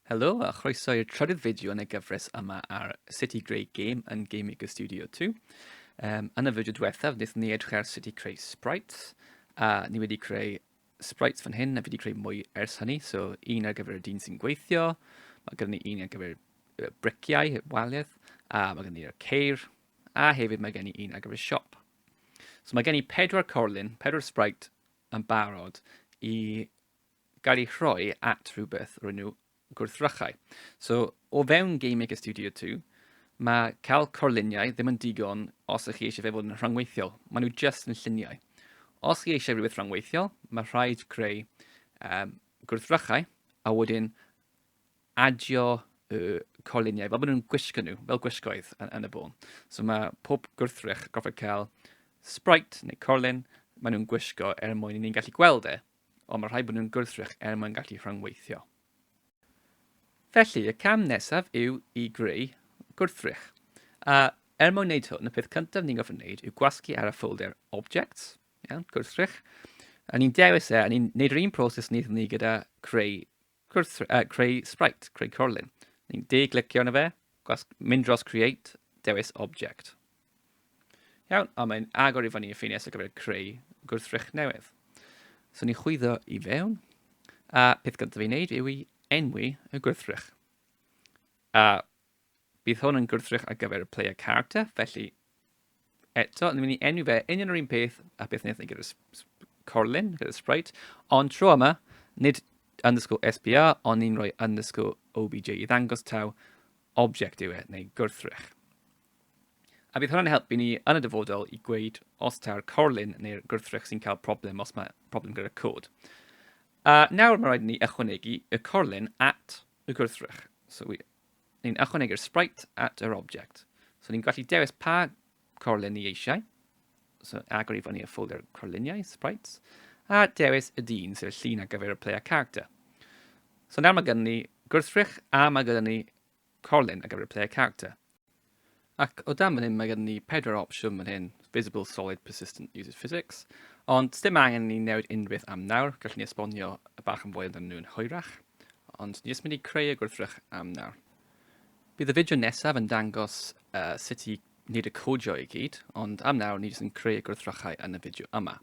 Helo a chroeso i'r trydydd fideo yn y gyfres yma ar sut i greu game yn Game Maker Studio 2. Um, yn y fideo diwethaf, wnaethon ni edrych ar sut i creu sprites, a ni wedi creu sprites fan hyn, a fi wedi creu mwy ers hynny, so un ar gyfer y dyn sy'n gweithio, mae gen ni un ar gyfer briciau, waliaeth, a mae gen i'r ceir, a hefyd mae gen i un ar gyfer siop. So mae gen i pedwar corlun, pedwar sprite yn barod i gael ei rhoi at rhywbeth o'r enw gwrthrychau. So, o fewn Game Maker Studio 2, mae cael corluniau ddim yn digon os ych chi eisiau fe fod yn rhangweithiol. Maen nhw jyst yn lluniau. Os chi eisiau rhywbeth rhangweithiol, mae rhaid creu um, gwrthrychau a wedyn adio y corluniau, fel bod nhw'n gwisgo nhw, fel gwisgoedd yn, yn y bôn. So mae pob gwrthrych gorfod cael sprite neu corlun, maen nhw'n gwisgo er mwyn i ni'n gallu gweld e ond mae rhaid bod nhw'n gwrthrych er mwyn gallu rhyngweithio. Felly, y cam nesaf yw i greu gwrthrych. A er mwyn wneud hwn, y peth cyntaf ni'n gofyn wneud yw gwasgu ar y ffolder Objects, iawn, gwrthrych, a ni'n dewis e, a ni'n gwneud yr un proses wnaethon ni gyda creu Gwrs, uh, creu sprite, creu corlun. Ni'n de-glicio yna fe, gwas, mynd dros create, dewis object. Iawn, a mae'n agor i fyny y ffines ar gyfer creu gwrthrych newydd. So ni chwyddo i fewn, a peth gyntaf i wneud yw i enwi y gwrthrych. A Bydd hwn yn gwrthrych ar gyfer y player character, felly eto, ni'n mynd i enw fe union yr un peth a beth wnaethon ni gyda'r corlun, gyda'r sprite, ond tro yma, nid underscore SBR, ond ni'n rhoi underscore OBJ i ddangos taw object yw e, neu gwrthrych. A bydd hwnna'n helpu ni yn y dyfodol i gweud os taw'r corlun neu'r gwrthrych sy'n cael problem os mae problem gyda'r cod. A nawr mae rhaid ni ychwanegu y corlun at y gwrthrych. So we, ni'n ychwanegu'r sprite at yr object. So ni'n gallu dewis pa corlun ni eisiau. So agor i fyny y ffolder corluniau, sprites, a dewis y dyn, sef y llun ar gyfer y player character. So nawr mae gyda ni gwrthrych a mae gyda ni corlun ar gyfer y player character. Ac o dan fan hyn mae gen ni pedwar opsiwn fan hyn, visible, solid, persistent, uses physics, ond dim angen ni newid unrhyw beth am nawr, gallwn ni esbonio y bach yn fwy amdano nhw yn hwyrach, ond ni jyst mynd i creu y gwrthrych am nawr. Bydd y fideo nesaf yn dangos uh, sut i wneud y codio i gyd, ond am nawr ni jyst yn creu y gwrthrychau yn y fideo yma.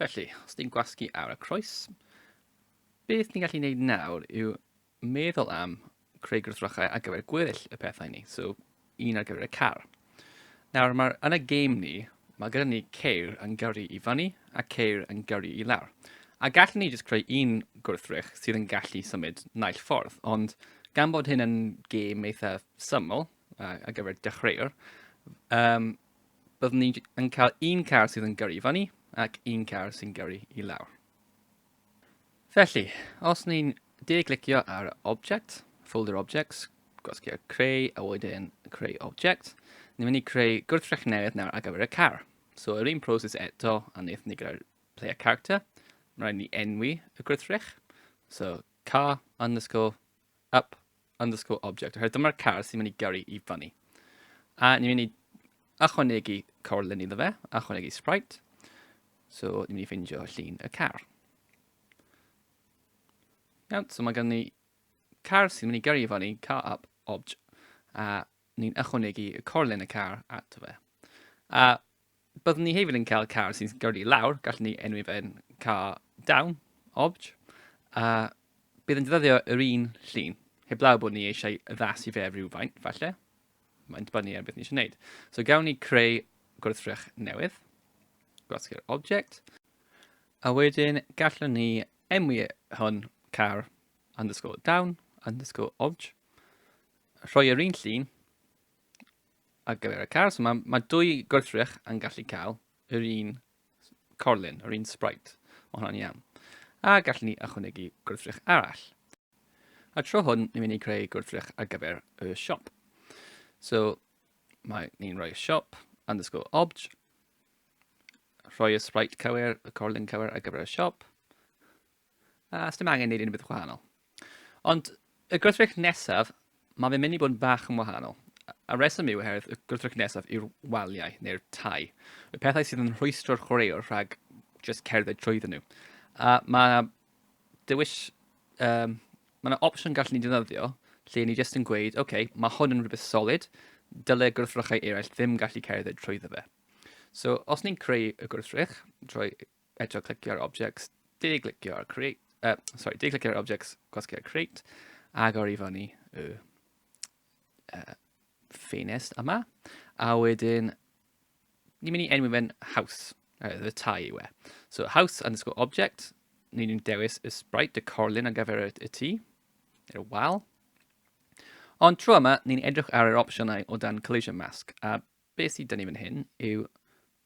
Felly, os ni'n gwasgu ar y croes, beth ni'n gallu gwneud nawr yw meddwl am creu gwrthrychau ar gyfer gweddill y pethau ni, so un ar gyfer y car. Nawr, mae'r yn y game ni, mae gyda ni ceir yn gyrru i fyny a ceir yn gyrru i lawr. A gallwn ni jyst creu un gwrthrych sydd yn gallu symud naill ffordd, ond gan bod hyn yn game eitha syml uh, ar gyfer dechreuwr, um, byddwn ni yn cael un car sydd yn gyrru i fyny ac un car sy'n gyrru i lawr. Felly, os ni'n de-glicio ar Object, Folder Objects, gwasgu'r creu a wedyn creu object, ni'n mynd i creu gwrthrych newydd nawr ar gyfer y car. So, yr un proses eto a wnaethon ni gyda'r play a character, mae rhaid ni enwi y gwrthrych. So, car underscore up underscore object, oherwydd dyma'r car sy'n mynd i gyrru i fyny. A ni'n mynd i ychwanegu corlun iddo fe, ychwanegu sprite, so ni'n mynd i ffeindio llun y car. Iawn, so mae gen ni car sy'n mynd i gyrru i fyny, car up, obj, a ni'n ychwanegu y corlun y car ato fe. A Byddwn ni hefyd yn cael car sy'n gyrru i lawr, gallwn ni enwi fe'n car down, obj, a bydd yn defnyddio yr un llun, heblaw bod ni eisiau addasu fe rhywfaint, falle. Mae'n dibynnu ar beth ni eisiau gwneud. So gawn ni creu gwrthrych newydd, gwasgu'r object, a wedyn gallwn ni enwi hwn car underscore down underscore obj, rhoi yr un llun, ar gyfer y car. So mae, mae dwy gwrthrych yn gallu cael yr un corlun, yr un sprite. Mae hwnna'n iawn. A gallwn ni ychwanegu gwrthrych arall. A tro hwn, ni'n mynd i creu gwrthrych ar gyfer y siop. So, mae ni'n rhoi siop underscore obj, rhoi y sprite cywir, y corlun cywir ar gyfer y siop, a sdim angen neud unrhyw beth gwahanol. Ond y gwrthrych nesaf, mae fe'n mynd i bod yn bach yn wahanol. A reswm yw oherwydd y gwrthrych nesaf yw'r waliau neu'r tai. Y pethau sydd yn rhwystro'r chwaraewr rhag just cerdded trwydden nhw. A mae yna dewis, um, mae yna opsiwn gallen ni defnyddio lle ni jyst yn gweud, oce, okay, mae hwn yn rhywbeth solid, dyle gwrthrychau eraill ddim gallu cerdded trwyddo fe. So, os ni'n creu y gwrthrych, trwy Pedro clicio ar objects, de-glicio ar create, uh, sorry, de-glicio ar objects, gwasgu ar create, agor i fyny y uh, ffenest yma, a wedyn ni'n mynd i enwi fe'n house, uh, y tai yw e. So house underscore object, ni'n mynd dewis y sprite, y corlun ar gyfer y, y tŷ, y wal. Ond tro yma, ni'n edrych ar yr opsiynau o dan collision mask, a Be sydd 'da ni fan hyn yw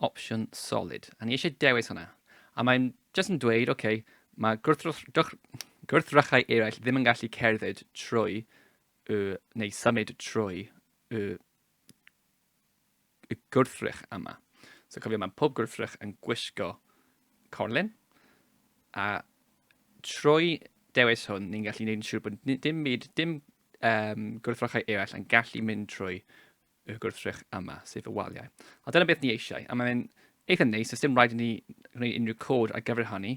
opsiwn solid, a ni eisiau dewis hwnna. A mae'n jyst yn dweud, oce, okay, mae gwrthrychau eraill ddim yn gallu cerdded trwy y, neu symud trwy y, y gwrthrych yma. So cofio, mae pob gwrthrych yn gwisgo corlun, a trwy dewis hwn, ni'n gallu gwneud yn siŵr bod dim byd, dim um, gwrthrychau eraill yn gallu mynd trwy y gwrthrych yma, sef y waliau. A dyna beth ni eisiau, a mae'n eitha neis, os dim rhaid i ni gwneud unrhyw cod ar gyfer hynny,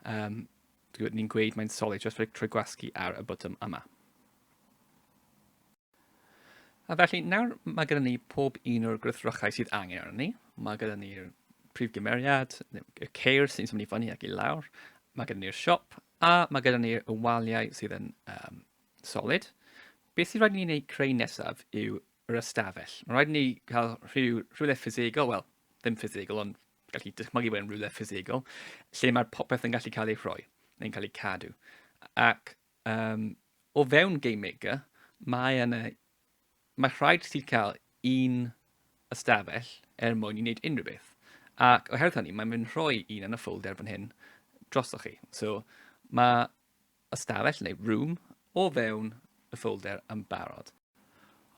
um, ni'n gweud mae'n solid just rhoi trwy gwasgu ar y botwm yma. A felly, nawr mae gyda ni pob un o'r gwrthrychau sydd angen arno ni. Mae gyda ni'r prif gymeriad, y ceir sy'n symud i fyny ac i lawr, mae gyda ni'r siop, a mae gyda ni'r waliau sydd yn um, Solid. Beth sy'n rhaid ni wneud creu nesaf yw yr ystafell. Mae'n rhaid ni cael rhyw, rhywle ffisegol, wel, ddim ffisegol, ond gallu dychmygu bod yn rhywle ffisegol, lle mae'r popeth yn gallu cael ei rhoi, neu'n cael ei cadw. Ac um, o fewn Game Maker, mae yna, mae rhaid ti cael un ystafell er mwyn i wneud unrhyw beth. Ac oherwydd hynny, mae'n mynd rhoi un yn y ffolder fan hyn drosoch chi. So, mae ystafell neu room o fewn y ffolder yn barod.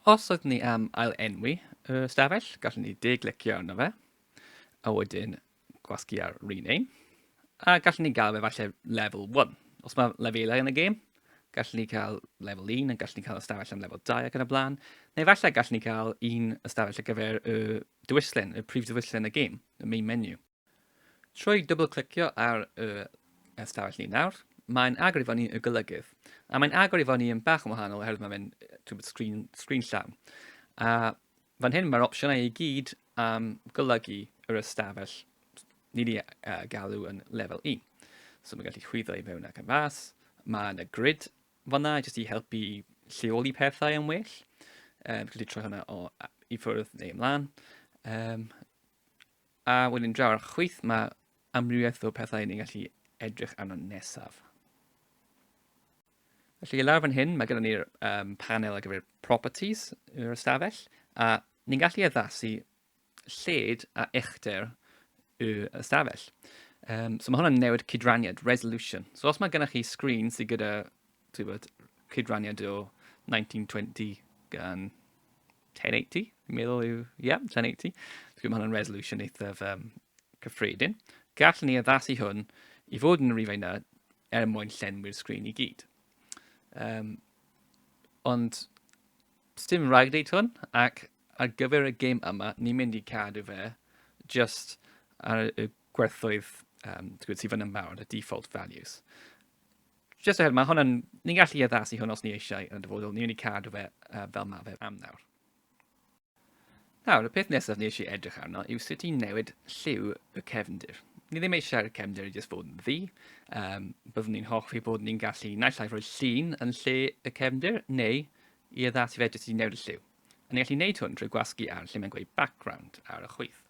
Os ydyn ni am ail-enwi y ystafell, gallwn ni de-glicio arno fe, a wedyn gwasgu ar rename, a gallwn ni gael fe falle level 1. Os mae lefelau yn y gêm, gallwn ni cael level 1, a gallwn ni cael ystafell am level 2 ac yn y blaen, neu falle gallwn ni cael un ystafell ar gyfer y diwyllen, y prif diwyllen y gêm, y main menu. Trwy dwbl-clicio ar yr ystafell ni nawr, mae'n agor i fo ni y golygydd. A mae'n agor i fo ni yn bach yn wahanol oherwydd mae fe'n twbl sgrin, sgrin llawn. A fan hyn mae'r opsiynau i gyd am golygu yr ystafell ni wedi uh, galw yn lefel 1. So mae'n gallu chwyddo i fewn ac yn fas. Mae yna grid fanna jyst i helpu lleoli pethau yn well. Um, gallu troi hwnna o i ffwrdd neu ymlaen. Um, A wedyn draw ar chwith mae amrywiaeth o pethau ni'n gallu edrych arno nesaf. Felly lawr fan hyn mae gyda ni'r um, panel ar gyfer properties yr ystafell a ni'n gallu addasu lled a uchder y ystafell. Um, so mae hwnna'n newid cydraniad, resolution. So os mae gennych chi sgrin sydd gyda bod, cydraniad o 1920 gan 1080, fi'n meddwl yw, ie, yeah, 1080. Dwi'n gwybod mae hwnna'n resolution eithaf um, cyffredin. Gallwn ni addasu hwn i fod yn y rifau yna er mwyn llenwi'r sgrin i gyd. Um, ond dim rhaid wneud hwn, ac ar gyfer y gêm yma, ni'n mynd i cadw fe just ar y gwerthoedd um, sydd fan yn barod, y default values. Just oherwydd, mae hwnna'n... Ni'n gallu addasu hwn os ni eisiau yn y dyfodol. Ni'n mynd i cadw fe uh, fel mae fe am nawr. Nawr, y peth nesaf ni eisiau edrych arno yw sut i newid lliw y cefndir. Ni ddim eisiau'r cefndir i jyst bod yn ddi. Um, byddwn ni'n hoffi bod ni'n gallu naill ai rhoi llun yn lle y cefndir, neu i addasu fe jyst i newid y lliw. A ni'n gallu gwneud hwn drwy gwasgu ar lle mae'n gweud background ar y chwyth.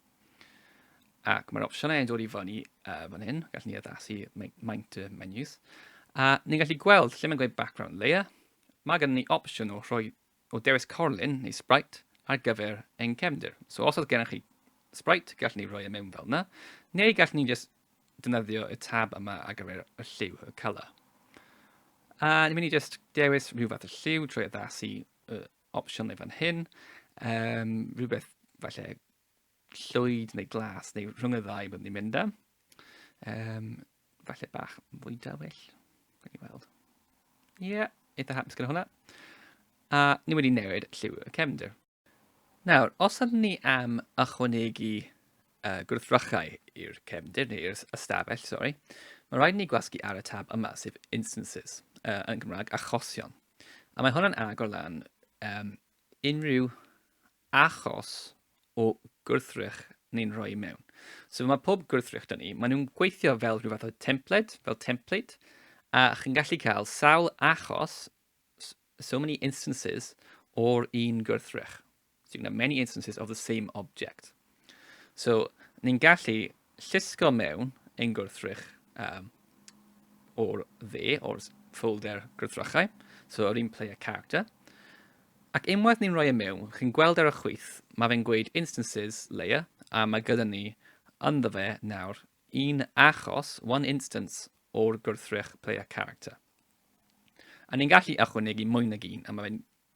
Ac mae'r opsiynau yn dod i fyny uh, fan hyn. Gallwn ni addasu maint y menus. A ni'n gallu gweld lle mae'n gweud background layer. Mae gen ni opsiwn o rhoi o dewis corlun neu sprite ar gyfer ein cefndir. So os oedd gennych chi sprite, gallwn ni roi e mewn fel yna, neu gallwn ni just defnyddio y tab yma ar gyfer y lliw, y colour. A ni'n mynd i just dewis rhyw fath o lliw trwy addasu y opsiynau fan hyn, um, rhywbeth falle llwyd neu glas neu rhwng y ddau byddwn ni'n mynd am. Um, falle bach fwy dywyll, gan i weld. Ie, yeah, eitha hapus gyda hwnna. A ni wedi newid lliw y cefnder. Nawr, os ydym ni am ychwanegu uh, gwrthrychau i'r cefndir, neu i'r ystafell, sori, mae rhaid ni gwasgu ar y tab yma, sef Instances, uh, yn Gymraeg, achosion. A mae hwnna'n agor lan um, unrhyw achos o gwrthrych ni'n rhoi mewn. So mae pob gwrthrych dyn ni, maen nhw'n gweithio fel rhyw fath o templed, fel template, a chi'n gallu cael sawl achos, so many instances, o'r un gwrthrych. So you can have many instances of the same object. So, ni'n gallu llusgo mewn ein gwrthrych um, o'r dde, o'r folder gwrthrychau, so yr un player character. Ac unwaith ni'n rhoi e mewn, chi'n gweld ar y chwyth, mae fe'n gweud instances layer, a mae gyda ni ynddo fe nawr un achos, one instance, o'r gwrthrych player character. A ni'n gallu ychwanegu mwy nag un, a mae fe'n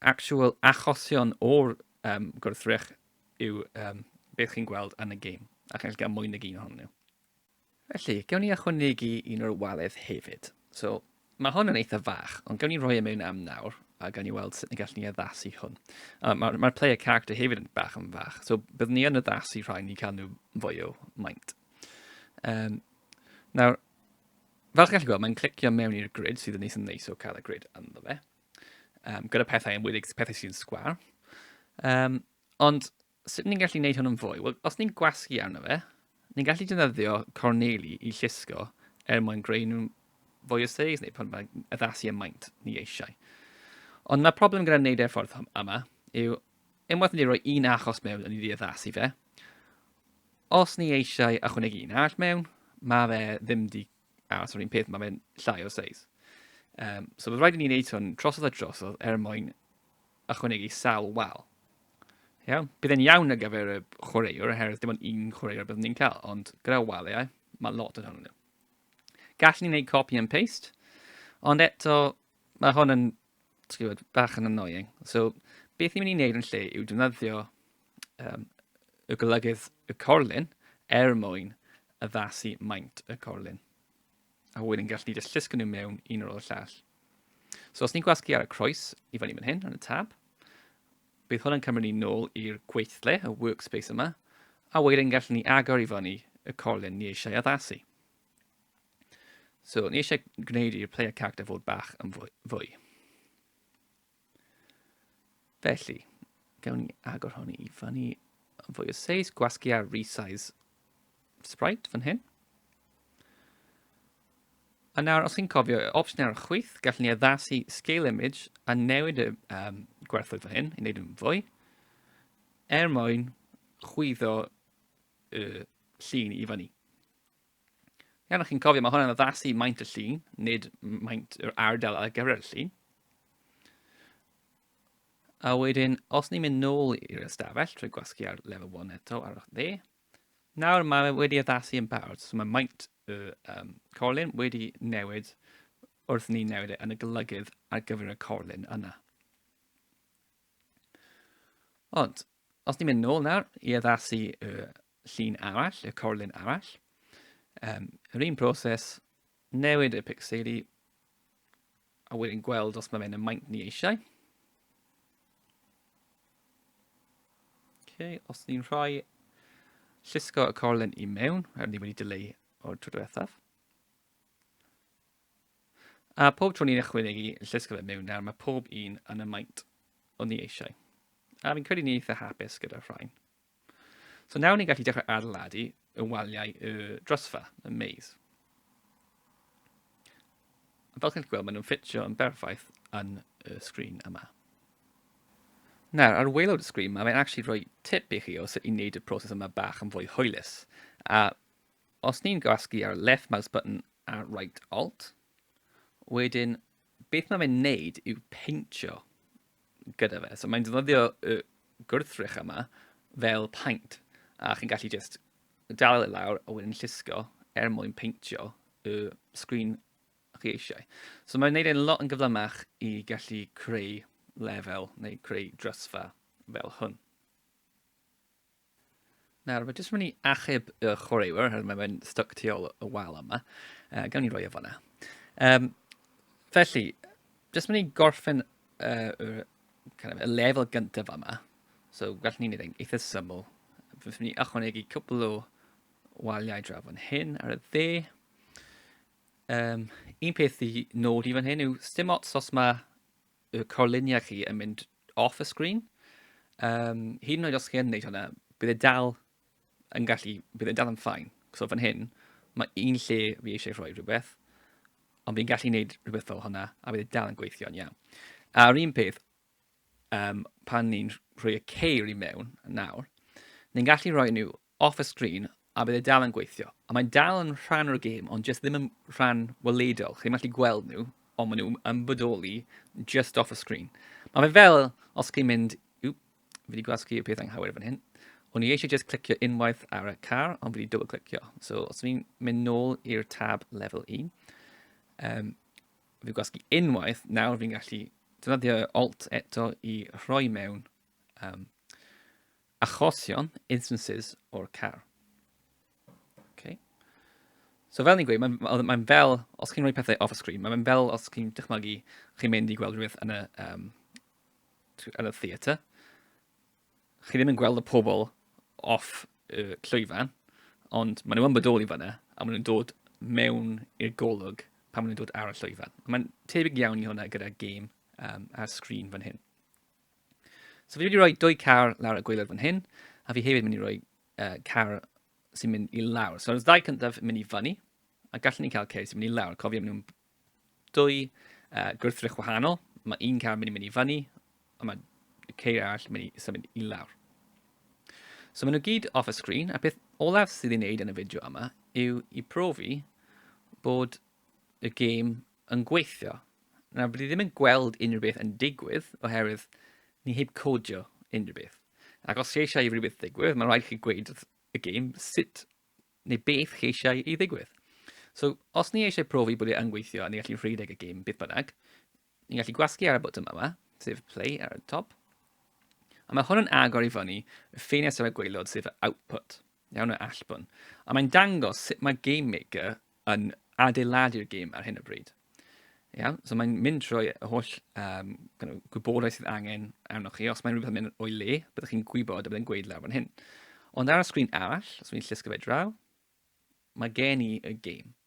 actual achosion o'r um, gwrthrych yw um, beth chi'n gweld yn y gêm, a chi'n gallu cael mwy nag un ohonyn nhw. Felly, gewn ni ychwanegu un o'r waledd hefyd. So, mae hwn yn eitha fach, ond gewn ni roi e mewn am nawr, a gawn ni weld sut ni gallu ni addasu hwn. Uh, Mae'r ma player character hefyd yn bach yn fach, so byddwn ni yn addasu rhain i cael nhw fwy o maint. Um, nawr, fel chi'n gallu gweld, mae'n clicio mewn i'r grid sydd yn neis yn neis o cael y grid ynddo fe. um, gyda pethau yn wedig pethau sy'n sgwar. Um, ond sut ni'n gallu gwneud hwn yn fwy? Wel, os ni'n gwasgu arno fe, ni'n gallu defnyddio corneli i llusgo er mwyn greu nhw'n fwy o seis neu pan mae addasu y maint ni eisiau. Ond mae problem gyda wneud e'r ffordd yma yw unwaith ni roi un achos mewn a ni wedi addasu fe, os ni eisiau ychwanegu un arall mewn, mae fe ddim di A os yr un peth, mae fe'n llai o seis. Um, so bydd rhaid i ni wneud hwn trosodd a trosodd er mwyn ychwanegu sawl wal. Iawn? Bydd e'n iawn ar gyfer y chwaraewr, oherwydd dim ond un chwaraewr byddwn ni'n cael, ond gyda waliau, mae lot yn hwnnw. Gallwn ni wneud copy and paste, ond eto, mae hwn yn ti'n gwybod, bach yn annoying. So, beth ni'n mynd i wneud yn lle yw defnyddio um, y golygydd y corlun er mwyn addasu maint y corlun. A wedyn gallu ni jyst llusgo nhw mewn un o'r llall. So os ni'n gwasgu ar y croes i fyny fan hyn, yn y tab, bydd hwn yn cymryd ni nôl i'r gweithle, y workspace yma, a wedyn gallwn ni agor i fyny y corlun ni eisiau addasu. So, ni eisiau gwneud i'r player character fod bach yn fwy. fwy. Felly, gawn ni agor hwn i fyny yn fwy o seis, gwasgu a resize sprite fan hyn. A nawr, os chi'n cofio, y opsiwn ar y chwyth, gallwn ni addasu scale image a newid y um, gwerthoedd fan hyn i wneud yn fwy, er mwyn chwyddo y llun i fyny. Iawn, chi'n cofio, mae hwnna'n addasu maint y llun, nid maint yr ardal ar gyfer y llun. A wedyn, os ni'n mynd nôl i'r ystafell trwy gwasgu ar level 1 eto ar ochr dde, nawr mae wedi addasu yn barod, so mae maint y um, corlun wedi newid wrth ni newid e yn y golygydd ar gyfer y corlun yna. Ond, os ni'n mynd nôl nawr i addasu y llun arall, y corlun arall. Um, yr un proses, newid y pixeli, a wedyn gweld os mae fe'n y maint ni eisiau. Okay, os ni'n rhoi llusgo y corlen i mewn, a ni wedi dileu o'r tro diwethaf. A pob tro ni'n ychwanegu llusgo fe mewn nawr, mae pob un yn y maint o'n ni eisiau. A fi'n credu ni eitha hapus gyda'r rhain. So nawr ni'n gallu dechrau adeiladu y waliau y drysfa, y maze. Fel chi'n gweld, maen nhw'n ffitio yn berffaith yn y sgrin yma. Nawr, ar waelod y sgrin yma, mae'n actually rhoi tip i chi o sut i wneud y proses yma bach yn fwy hwylus. A os ni'n gwasgu ar left mouse button a right alt, wedyn beth mae fe'n neud yw peintio gyda fe. So mae'n defnyddio y gwrthrych yma fel paint. A chi'n gallu just dal e lawr a wedyn llusgo er mwyn peintio y sgrin chi eisiau. So mae'n neud e'n lot yn gyflymach i gallu creu lefel neu creu drysfa fel hwn. Nawr, mae jyst mynd i achub y chwaraewyr, hynny mae fe'n stuck tu ôl y wal yma. Uh, gawn ni roi o fanna. Um, felly, jyst mynd i gorffen uh, kind of, y lefel gyntaf yma. So, gallwn ni'n ei eitha syml. Fes mynd i ychwanegu cwbl o waliau draw fan hyn ar y dde. Um, un peth i nod i fan hyn yw stim ots os mae y corluniau chi yn mynd off y sgrin. Um, hyd yn oed os chi yn gwneud hwnna, bydd e dal yn gallu, bydd e dal yn ffain. So fan hyn, mae un lle fi eisiau rhoi rhywbeth, ond fi'n gallu gwneud rhywbeth fel hwnna, a bydd e dal yn gweithio'n iawn. A'r un peth, um, pan ni'n rhoi y ceir i mewn nawr, ni'n gallu rhoi nhw off y sgrin a bydd e dal yn gweithio. A mae'n dal yn rhan o'r gêm, ond jyst ddim yn rhan weledol. Chi'n gallu gweld nhw, ond maen nhw yn bodoli just off y sgrin. Mae fe fel os chi'n mynd... Yw, fi wedi gwasgu y peth anghywir fan hyn. O'n i eisiau just clicio unwaith ar y car, ond fi wedi double clicio. So, os fi'n mynd nôl i'r tab level 1, um, fi gwasgu unwaith, nawr fi'n gallu defnyddio alt eto i rhoi mewn um, achosion, instances, o'r car. Okay. So fel ni'n gweud, mae'n mae, mae fel, os chi'n rhoi pethau off y sgrin, mae'n fel os chi'n dychmygu chi'n mynd i gweld rhywbeth yn y, um, yn y theatr. Chi ddim yn gweld y pobl off y llwyfan, ond maen nhw'n bodoli fyna, a maen nhw'n dod mewn i'r golwg pan maen nhw'n dod ar y llwyfan. Mae'n tebyg iawn i hwnna gyda gêm um, ar sgrin fan hyn. So fi wedi rhoi dwy car lawr y gweilod fan hyn, a fi hefyd mynd i roi uh, car sy'n mynd i lawr. So, os ddau cyntaf yn mynd i fyny, a gallwn ni cael ceir sy'n mynd i lawr. Cofio, maen nhw'n dwy uh, gwrthrych wahanol. Mae un car yn mynd i mynd i fyny, a mae ceir arall yn mynd i symud i lawr. So maen nhw gyd off y sgrin, a peth olaf sydd ei wneud yn y fideo yma yw i profi bod y gêm yn gweithio. Nawr, bydd i ddim yn gweld unrhyw beth yn digwydd oherwydd ni heb codio unrhyw beth. Ac os chi eisiau i rhywbeth ddigwydd, mae'n rhaid chi gweud wrth y gêm sut neu beth chi eisiau i ddigwydd. So, os ni eisiau profi bod e yn gweithio a ni gallu rhedeg y gêm beth bynnag, ni'n gallu gwasgu ar y botwm yma, sef play ar y top. A mae hwn yn agor i fyny y ffenest ar y gweilod sef output. Iawn o allbwn. A mae'n dangos sut mae Game Maker yn adeiladu'r gêm ar hyn o bryd. Iawn, so mae'n mynd trwy y holl um, gwybodaeth sydd angen arnoch chi. Os mae'n rhywbeth yn mynd o'i le, byddwch chi'n gwybod a byddai'n gweud lawr fan hyn. Ond ar y sgrin arall, os wy'n llusgo fe draw, mae gen i y gêm.